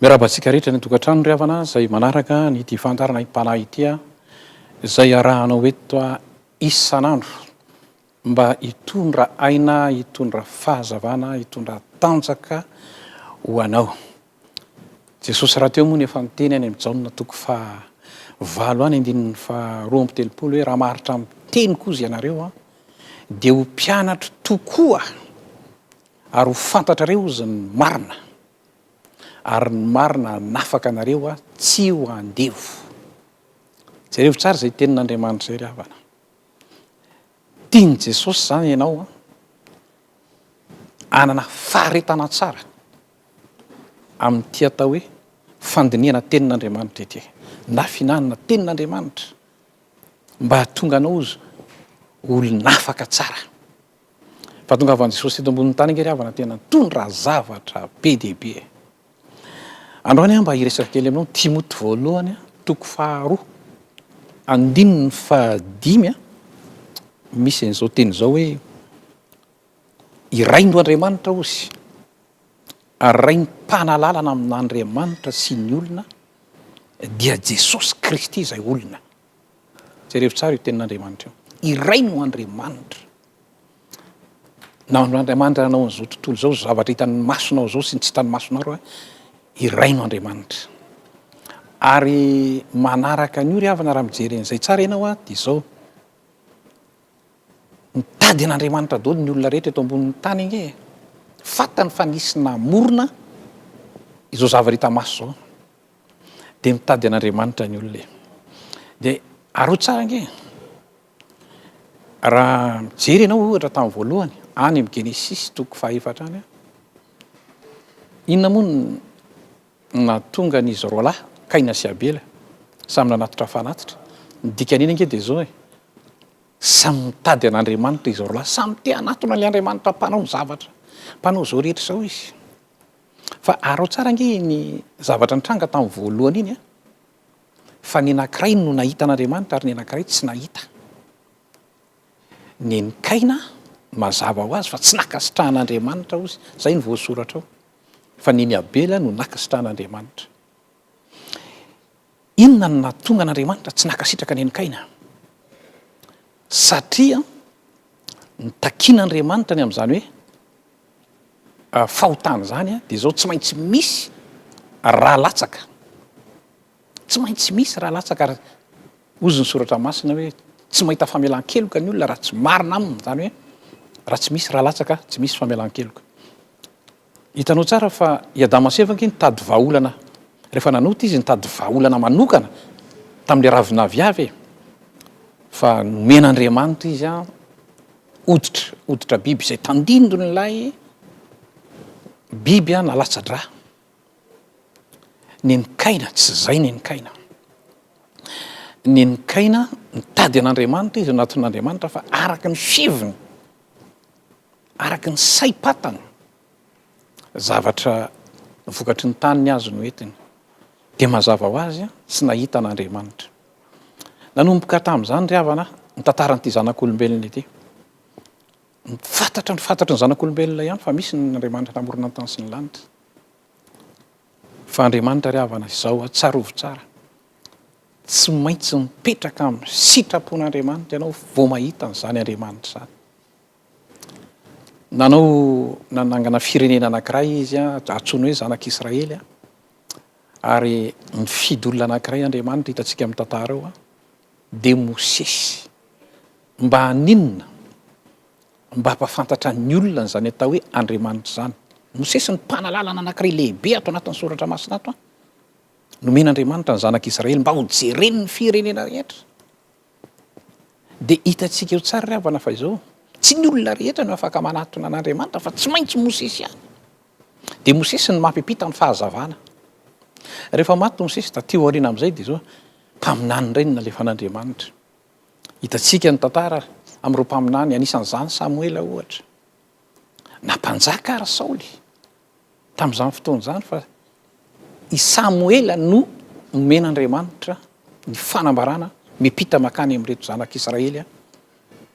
Miarahaba antsika rehetra any an-tokantrano ry havana izay manaraka an'ity fandaharana aim-panahy ity aho izay arahanao eto isan'andro mba hitondra aina, hitondra fahazavana, hitondra tanjaka ho anao. Jesosy rahateo moa no efa niteny any amin'ny Jaona toko faha valo any andininy faha roa amby telopolo hoe raha maharitra amin'ny teniko koa izy ianareo dia ho mpianatro tokoa Ary ho fantatrareo Izy ny marina, ary ny marina hanafaka anareo tsy ho andevo. Jereo tsara izay tenin'Andriamanitra izay ry havana. Tian'i Jesosy izany ianao hanana faharetana tsara amin'ity atao hoe fandinihana tenin'Andriamanitra ity, na fihinanana tenin'Andriamanitra, mba hahatonga anao olona afaka tsara. Fahatongavan'i Jesosy teto ambonin'ny tany ange ry havana tena nitondra zavatra be dia be e! Androany aho mba hiresaka kely aminao Timoty voalohany toko faharoa andininy fahadimy a, misy an'izao teny izao hoe i Rain'o Andriamanitra ozy ary Rain'ny mpanalalana amin'Andriamanitra sy ny olona dia Jesosy Kristy izay olona. Jerevo tsara io tenin'Andriamanitra io. Iray no Andriamanitra. Nahandro Andriamanitra nanao an'izao tontolo izao, izao zavatra hitan'ny masonao izao sy ny tsy hitan'ny masonao raha iray no Andriamanitra. Ary manaraka an'io ry havana raha mijery an'izay tsara ianao a, dia izao, mitady an'Andriamanitra daholo ny olona rehetra eto ambonin'ny tany ange e, fantany fa nisy namorona izao zavatra hita maso izao. dia mitady an'Andriamanitra ny olona e. Dia aroa tsara ange e. Raha mijery ianao ohatra tamin'ny voalohany, any amin'ny Genesisy toko fahaefatra any, inona moa no nahatonga an'izy roa lahy, Kaina sy Abela, samy nanatitra fanatitra? Ny dikan'iny ange dia izao e, samy mitady an'Andriamanitra izy roa lahy, samy te hanatona an'ilay Andriamanitra mpanao ny zavatra, mpanao izao rehetra izao izy. Fa araho tsara ange iny zavatra nitranga tamin'ny voalohany iny a! Fa ny anankiray no nahita an'Andriamanitra ary ny anankiray tsy nahita. Nen'i Kaina, mazava ho azy fa tsy nankasitrahan'Andriamanitra ozy, izay no voasoratra ao. Fa nen'i Abela no nankasitrahan'Andriamanitra. Inona no nahatonga an'Andriamanitra tsy nankasitraka an'i Kaina? Satria nitakian'Andriamanitra ny amin'izany hoe fahotana izany dia izao, tsy maintsy misy ra latsaka. Tsy maintsy misy ra latsaka ary hozy ny soratra masina hoe tsy mahita famelan-keloka ny olona raha tsy marina aminy, izany hoe raha tsy misy ra latsaka tsy misy famelan-keloka. Hitanao tsara fa i Adama sy Eva ange nitady vahaolana rehefa nanota izy nitady vahaolana manokana tamin'ilay ravin'aviavy e! fa nomen'Andriamanitra izy an hoditra hoditra biby izay tandindon'ilay biby an nalatsa-drà nen'Kaina tsy zay nen'Kaina nen'Kaina nitady an'Andriamanitra izy nanaton'Andriamanitra fa araka ny fiheviny Araka ny saim-patany, zavatra vokatry ny tany ny azy no entiny. Dia mazava ho azy, tsy nahita an'Andriamanitra. Nanomboka tamin'izany ry havana ny tantaran'ity zanak'olombelona ity. Fantatra ny fantatry ny zanak'olombelona ihany fa misy ny Andriamanitra namorona ny tany sy ny lanitra. Fa Andriamanitra ry havana izao, tsarovy tsara, tsy maintsy mipetraka amin'ny sitrapon'Andriamanitra ianao vao mahita an'izany Andriamanitra izany. Nanao nanangana firenena anankiray izy antsoiny hoe zanak'i Israely ary nifidy olona anankiray Andriamanitra hitantsika amin'ny tantara ao dia Mosesy. Mba haninona? Mba hampafantatra ny olona an'izany atao hoe Andriamanitra izany. Mosesy no mpanalalana anankiray lehibe ato anatin'ny soratra masina ato nomen'Andriamanitra ny zanak'i Israely mba hojeren'ny firenena rehetra. Dia hitantsika eo tsara ry havana fa izao, tsy ny olona rehetra no afaka manatona an'Andriamanitra fa tsy maintsy Mosesy ihany. Dia Mosesy no mampiampita ny fahazavana. Rehefa maty Mosesy taty aoriana amin'izay dia izao, mpaminany indray no nalefan'Andriamanitra. Hitantsika ny tantara amin'ireo mpaminany, anisan'izany Samoela ohatra. Na mpanjaka ary Saoly, tamin'izany fotoana izany fa i Samoela no nomen'Andriamanitra ny fanambarana miampita makany amin'ireto zanak'Israely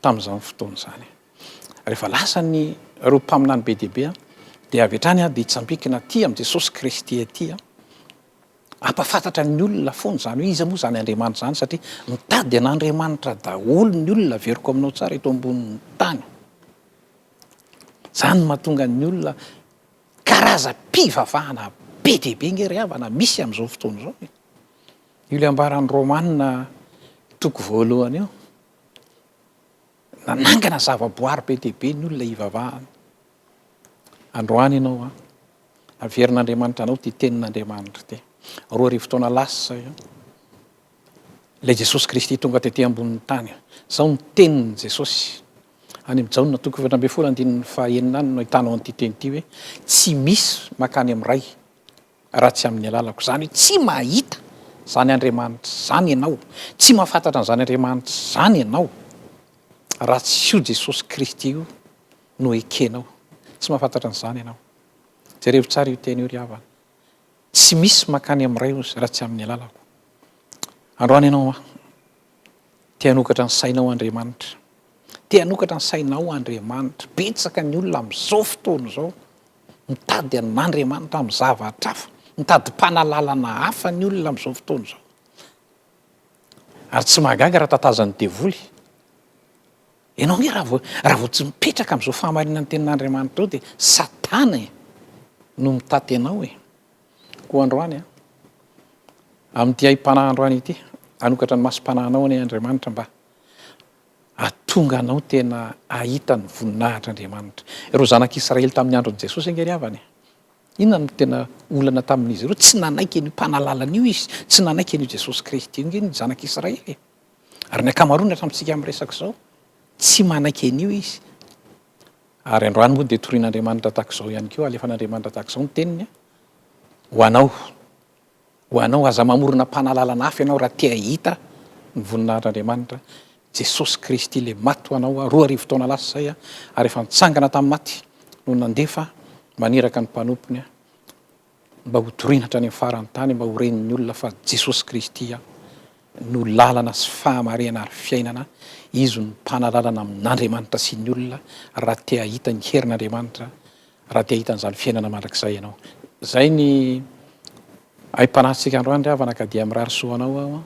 tamin'izany fotoana izany. Rehefa lasa ny ireo mpaminany be dia be dia avy hatrany dia hitsambikina aty amin'i Jesosy Kristy aty hampahafantatra ny olona foana izany hoe iza moa izany Andriamanitra izany satria mitady an'Andriamanitra daholo ny olona averiko aminao tsara eto ambonin'ny tany. Izany no mahatonga ny olona karazam-pivavahana be dia be ange ry havana misy amin'izao fotoana izao e. Io ilay ambaran'ny Romana toko voalohany io, nanangana zavaboary be dia be ny olona hivavahana. Androany ianao an, averin'Andriamanitra anao ity tenin'Andriamanitra ity. Roa arivo taona lasa izay an, ilay Jesosy Kristy tonga tety ambonin'ny tany. Izao ny tenin'i Jesosy. Any amin'ny Jaona toko efatra ambin'ny folo andininy fahaenina any no ahitanao an'ity teny ity hoe tsy misy mankany amin'ny Ray raha tsy amin'ny alalako. Izany hoe tsy mahita izany Andriamanitra izany ianao, tsy mahafantatra an'izany Andriamanitra izany ianao raha tsy io Jesosy Kristy io no ekenao. Tsy mahafantatra an'izany ianao. Jerevo tsara io teny io ry havana. Tsy misy mankany amin'ny Ray hozy raha tsy amin'ny alalako. Androany ianao Te hanokatra ny sainao Andriamanitra. Te hanokatra ny sainao Andriamanitra. Betsaka ny olona amin'izao fotoana izao mitady an'Andriamanitra amin'ny zavatra hafa, mitadi-panalalana hafa ny olona amin'izao fotoana izao. Ary tsy mahagaga raha tatazan'ny devoly. Ianao ange raha vao raha vao tsy mipetraka amin'izao fahamarinan'ny tenin'Andriamanitra izao dia Satana e no mitaty anao e. Koa androany, amin'ity haim-panahy androany ity, hanokatra ny masom-panahinao anie Andriamanitra mba hahatonga anao tena hahita ny voninahitr'Andriamanitra. Ireo zanak'Israely tamin'ny andron'i Jesosy ange ry havana e! Inona no tena olana tamin'izy ireo? Tsy nanaiky an'io Mpanalalana io izy, tsy nanaiky an'io Jesosy Kristy io ange ny zanak'Israely e! Ary ny ankamaroany hatramintsika miresaka izao, tsy manaiky an'io izy. Ary androany moa dia torian'Andriamanitra tahaka izao ihany koa, alefan'Andriamanitra tahaka izao ny teniny ho anao, ho anao. Aza mamorona mpanalalana hafa ianao raha te hahita ny voninahitr'Andriamanitra. Jesosy Kristy ilay maty ho anao roa arivo taona lasa izay ary efa nitsangana tamin'ny maty no nandefa maniraka ny mpanompony. mba ho torina hatrany amin'ny faran'ny tany mba ho ren'ny olona fa Jesosy Kristy no lalana sy fahamarihana ary fiainana, Izy no mpanalalana amin'Andriamanitra sy ny olona raha te hahita ny herin'Andriamanitra, raha te hahita an'izany fiainana mandrakizay ianao. Izay ny aim-panahintsika androany ry havana ka dia mirary soa anao aho an!